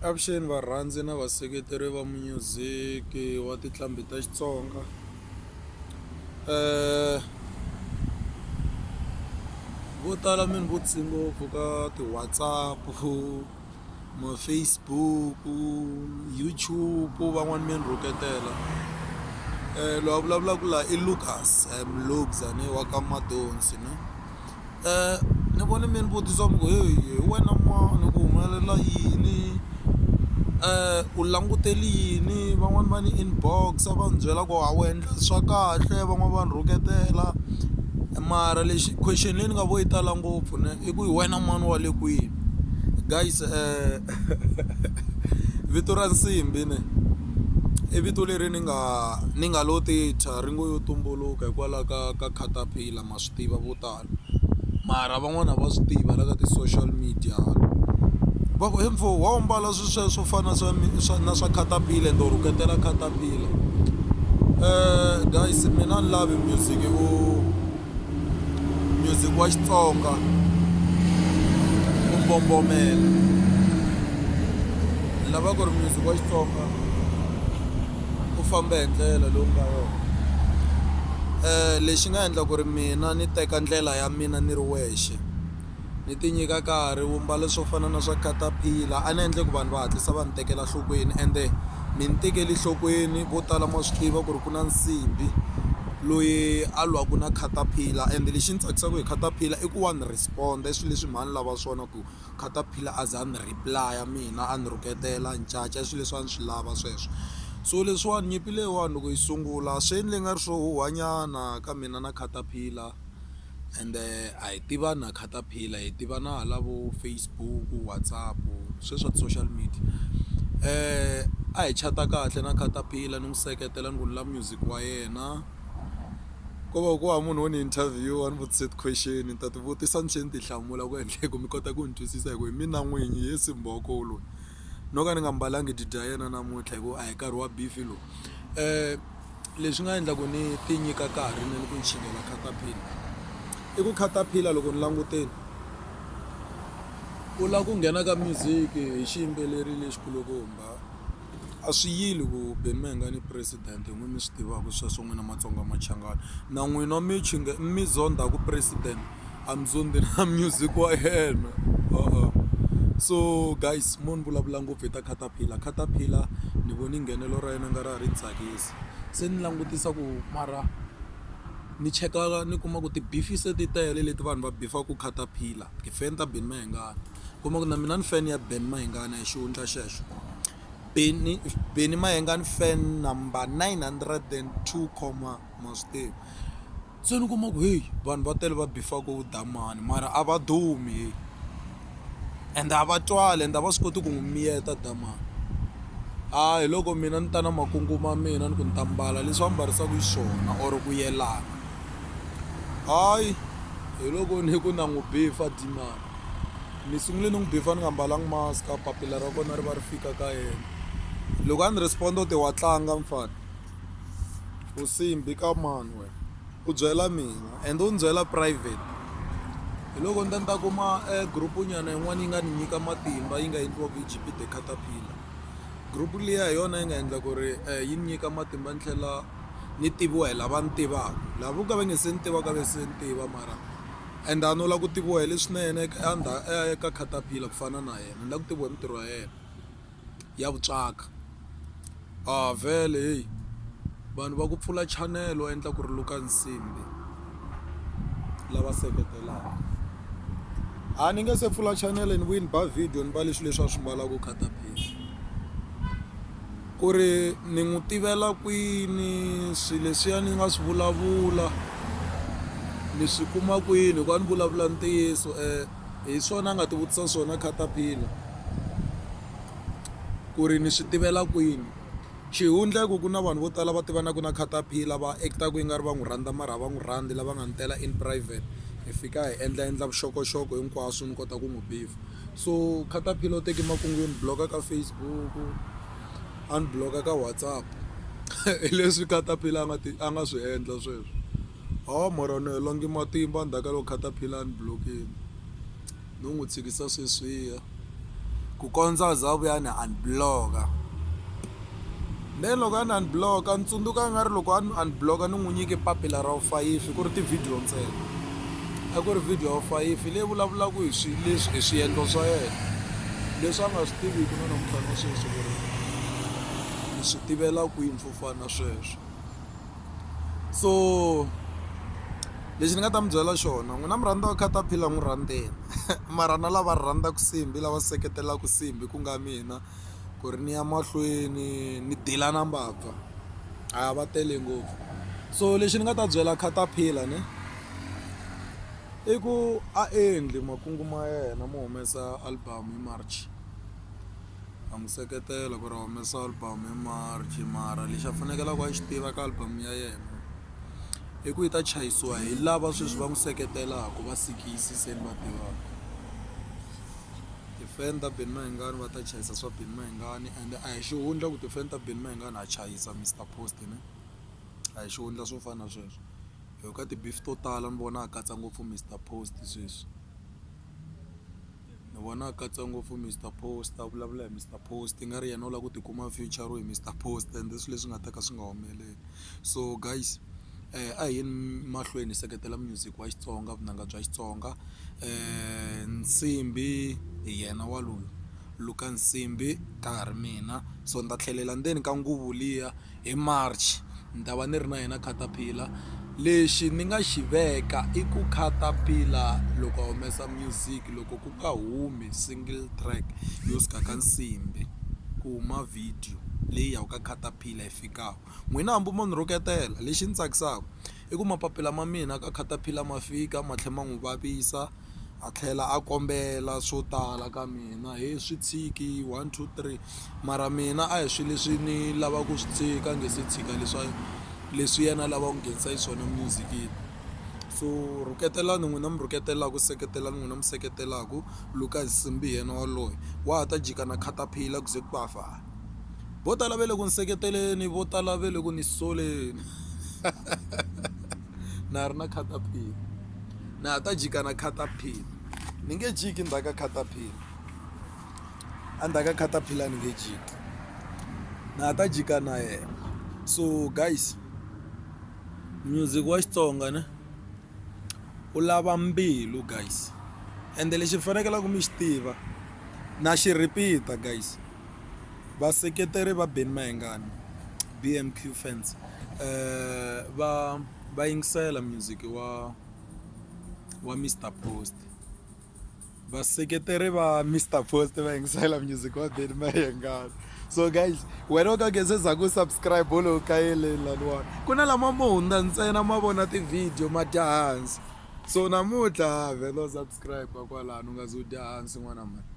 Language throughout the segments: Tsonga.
Avuxeni varhandzi na vaseketeri va munyuziki wa tinqambi ta Xitsonga eh vo tala mi ni vutise ngopfu ka ti-WhatsApp, ma-Facebook, YouTube van'wani mi ni rhuketela loyi a vulavulaka la i Lukas I am Lukes a ni wa ka Madonsi ni. Ni vone mi ni vutisa mi ku heyi hi wena mani ku humelela yini u langutele yini van'wani va ni inbox-a va ni byela ku a wu endla swa kahle van'wani va ni rhuketela mara lexi question leyi ni nga vo yi tala ngopfu ne i ku hi wena mani wa le kwini guys vito ra nsimbhi ne i vito leri ni nga ni nga lo ti thya ri ngo yo tumbuluka hikwalaho ka ka caterpillar. ma swi tiva vo tala mara van'wani a va swi tivi va la ka ti-social media va ku he mfo wa wu mbala swi sweswo swo fana na swa swa na swa caterpillar ende u rhuketela caterpillar um guys mina ni lavi music u music wa xitsonga u mbombomela ni lava ku ri music wa xitsonga u famba hi ndlela leyi u nga yona lexi nga endla ku ri mina ni teka ndlela ya mina ni ri wexe ni ti nyika nkarhi wu mbala swo fana na swa catapiller a ni endle ku vanhu va hatlisa va ni tekela nhlokweni ende ni ni tekele enhlokweni vo tala ma swi tiva ku ri ku na nsimbhi loyi a lwaka na catapiller ende lexi ni tsakisaka hi catapiller i ku wa ni respond-a i swilo leswi mhani lava swona ku. Caterpillar a za ni reply-a mina a ni rhuketela ni caca i swilo leswi a ni swi lava sweswo so leswiwani nyimpi leyiwani loko yi sungula swi endle nga ri swo huhwa nyana ka mina na Caterpillar ende a hi tivani na Caterpillar hi tivana hala vo Facebook, WhatsApp swe swa ti-social media a hi chat-a kahle na Caterpillar ni n'wi seketela ni ku ni lava music wa yena. ko va ku va munhu wo ni interview a ni vutise ti-question ni ta ti vutisa ni tlhela ni ti hlamula ku endla hi ku mi kota ku ni twisisa hi ku hi mina n'winyi hi yesi mbhoko loyi no ka ni nga mbalanga didi ya yena namuntlha hi ku a hi nkarhi wa beef lowu um leswi nga endla ku ni ti nyika karhi ni ni ku ni chingela catapila i ku catapila loko ni languteni u lava ku nghena ka music hi xiyimbeleri lexikulukumba A swi yili ku Benmenga ni President hi n'wina mi swi tivaka sweswo n'wina Matsonga Machangani na n'wina mi chinge mi zondha ku President a mi zondhi na music wa yena so guys mo ni vulavula ngopfu hi ta caterpillar caterpillar ni vone nghenelo ra yena nga ri a ri ni tsakisi se ni langutisa ku mara ni cheka ni kuma ku ti-beef se ti tele leti vanhu va bifaka caterpillar ti-fan ta Benmehengani. kuma ku na mina ni fan ya Ben Mayengani hi xihundla xexo Benny Benny Mayengani fan number 902 comma mastive se ni kuma ku heyi vanhu va tele va bifaka u damani mara a va dumi heyi and a va twali and a va swi koti ku n'wi miyeta damani a hi loko mina ni ta na makungu ma mina ni ku ni ta mbala leswi va mbarisaka hi swona or ku yelana hayi hi loko ni ku na n'wi bifa dimani ni sungule ni n'wi before ni nga mbalanga mask a papila ra kona ri va ri fika ka yena loko a ni respond o te wa tlanga mfana u simbi ka mani wena u byela mina and u ni byela private hi loko ni ta ni ta kuma e group nyana yin'wana yi nga ni nyika matimba yi nga endliwaka hi gp the caterpillar group liya hi yona yi nga endla ku ri um yi ni nyika matimba ni tlhela ni tiviwa hi lava ni tivaka lava vo ka va nge se ni tivaka ve se ni tiva mara Ende a no la ku tiviwa hi leswinene eka a ndha a ya eka caterpillar ku fana na yena ni la ku tiviwa hi mintirho ya yena ya vutswaka a vhele heyi vanhu va ku pfula channel wa endla ku ri luka nsimbi lava seketelaka a ni nge se pfula channel ni vuyi ni ba video ni mbale swilo leswi a swi mbalaka caterpillar. Ku ri ni n'wi tivela kwini swi leswiya ni nga swi vulavula ni swi kuma kwini hikuva ni vulavula ntiyiso hi swona a nga tivutisa swona caterpillar ku ri ni swi tivela kwini xihundla i ku ku na vanhu vo tala va tivanaka na caterpillar va act-aka i nga ri va n'wi rhandza mara a va n'wi rhandzi lava nga ni tela in private hi fika hi endla endla vuxokoxoko hinkwaswo ni kota ku n'wi . so caterpillar u teke makungu yo ni block-a ka Facebook a ni block-a ka WhatsApp hi leswi caterpillar a nga ti a nga swi endla sweswo ha mara ni hela ngi matimba ndzhaku ka loko caterpillar a ni block-ini no n'wi tshikisa sweswiya ku kondza a za a vuya a ni unblock-a. Then loko a ni unblock-a ni tsundzuka nga ri loko a ni unblock-a ni n'wi nyike papila ra vufayifi ku ri ti-video ntsena a ku ri video ya vufayifi leyi vulavulaka hi swi leswi hi swiendlo swa yena leswi a nga swi tiviki na namuntlha na sweswi ku ri ni swi tivela kwini swo fana na sweswo so lexi ni nga ta mi byela xona n'wina mi rhandza caterpillar n'wi rhandzeni mara na lava rhandzaka nsimbhi lava seketelaka nsimbhi ku nga mina. ku ri ni ya mahlweni ni deal na mbabva a va tele ngopfu so lexi ni nga ta byela caterpillar ne i ku a endli makungu ma yena mo humesa album hi March ha n'wi seketela ku ri a humesa album hi March mara lexi a fanekele a xi tiva ka album ya yena i ku yi ta chayisiwa hi lava sweswi va n'wi seketelaka va Sikisi se ni va tivaka. Ti-fan ta Benny Mayengani va ta chayisa swa Benny Mayengani ende a hi xihundla ku ti-fan ta Benny Mayengani ha chayisa Mister Post ne a hi xihundla swo fana na sweswo hi yo ka ti-beef to tala ni vona a katsa ngopfu Mister Post sweswi ni vona a katsa ngopfu Mister Post a vulavula hi Mister Post i nga ri yena u lava ku tikuma a future Mister Post ende i swilo leswi nga ta ka swi nga humeleli so guys. a hi yeni mahlweni hi seketela music wa Xitsonga vunanga bya Xitsonga Nsimbhi hi yena wa loyi Luka Nsimbhi ka ha ri mina so ni ta tlhelela ndzeni ka nguvu liya hi March ni ta va ni ri na yena caterpillar lexi ni nga xi veka i ku caterpillar loko a humesa music loko ku nga humi single track yo suka ka Nsimbhi ku huma video leyi ya ka caterpillar yi fikaka N'wina hambi mo ni rhuketela, lexi ni tsakisaka i ku mapapila ma mina ka caterpillar ma fika ma tlhela ma n'wi vavisa a tlhela a kombela swo tala ka mina he swi tshiki one two three mara mina a hi swilo leswi ni lavaka ku swi tshika ni nge se tshika leswa leswi yena a lavaka ku nghenisa xiswona music-ini so rhuketelani n'wina mi rhuketelaka seketelani n'wina mi seketelaka Lucas Nsimbi hi yena waloye wa ha ta jika na caterpillar ku ze ku ba fana. vo tala va le ku ni seketeleni vo tala va le ku ni soleni na ha ri na caterpillar na ha ta jika na caterpillar ni nge jiki ndzhaku ka caterpillar a ndzhaku ka caterpillar ni nge jiki na ha ta jika na yena so guys music wa Xitsonga ne u lava mbilu guys ende lexi mi fanekelaka mi xi tiva na xi repeat-a guys. Vaseketeri va Benny Mayengani, BMQ fans, va va yingisela music wa wa Mister Post. Vaseketeri va Mister Post va yingisela music wa Benny Mayengani. So guys, wena u ka nge se za ku subscribe u lo u kayeleni laniwani. Ku na lama mo hundza ntsena ma vona ti-video ma dya hansi. So namuntlha vhela u subscribe-a kwalano u nga ze u dya hansi n'wana mhani.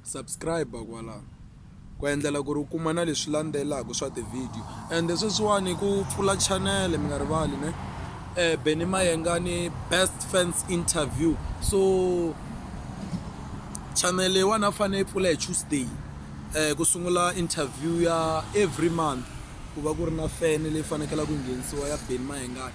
subscribe kwala ku endlela ku ri u kuma na leswi landzelaka swa ti-video ende sweswiwani ku pfula chanele mi nga rivali ne um beni mayengani best fans interview so chanele leyiwani a fanele yi pfula hi tuesday um ku sungula interview ya every month ku va ku ri na fene leyi fanekela ku nghenisiwa ya beni mayengani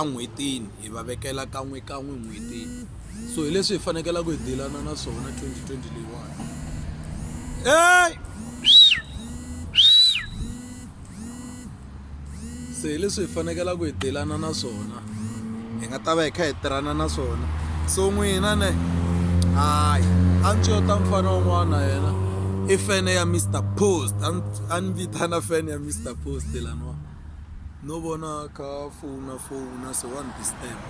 en'hwetini hi va vekela kan'wekan'we en'hwetini so hi leswi hi fanekelaka hi dilana na swona 2020 leyiwani ey se hi leswi hi fanekelaka hi dilana na swona hi nga ta va hi kha hi tirhana na swona so n'wina ne hayi a ndzi yo ta mfana un'wana yena i fene ya Mister Post a ni vitana fene ya Mister Post laniwa. no vona kha phone na phone na se one disturb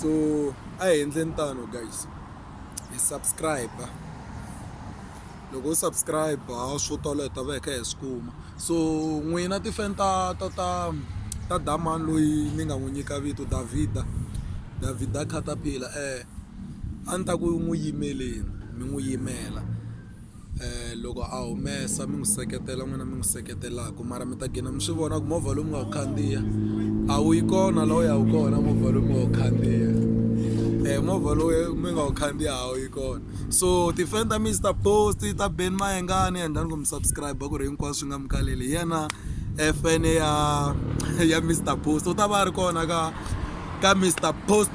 so a hi endleni tano guys hi subscribe loko u subscribe swo tala hi ta va hi kha hi swi kuma so n'wina tifan ta ta ta ta damani loyi ni nga n'wi nyika vito davida davida catapila um a ni ta ku n'wi yimeleni mi n'wi yimela loko a humesa mi n'wi seketela n'wina mi n'wi seketelaka mara mi ta gina mi swi vona ku movha lowu mi nga wu khandziya a wu yi kona laha u ya wu kona movha lowu mi nga wu khandziya um movha lowu mi nga wu khandziya a wu yi kona so ti-fan ta mina ti ta post ta Ben Mayengani endlani ku mi subscribe-a ku ri hinkwaswo swi nga mi kaleli hi yena fan ya ya Mister Post u ta va a ri kona ka ka Mister Post.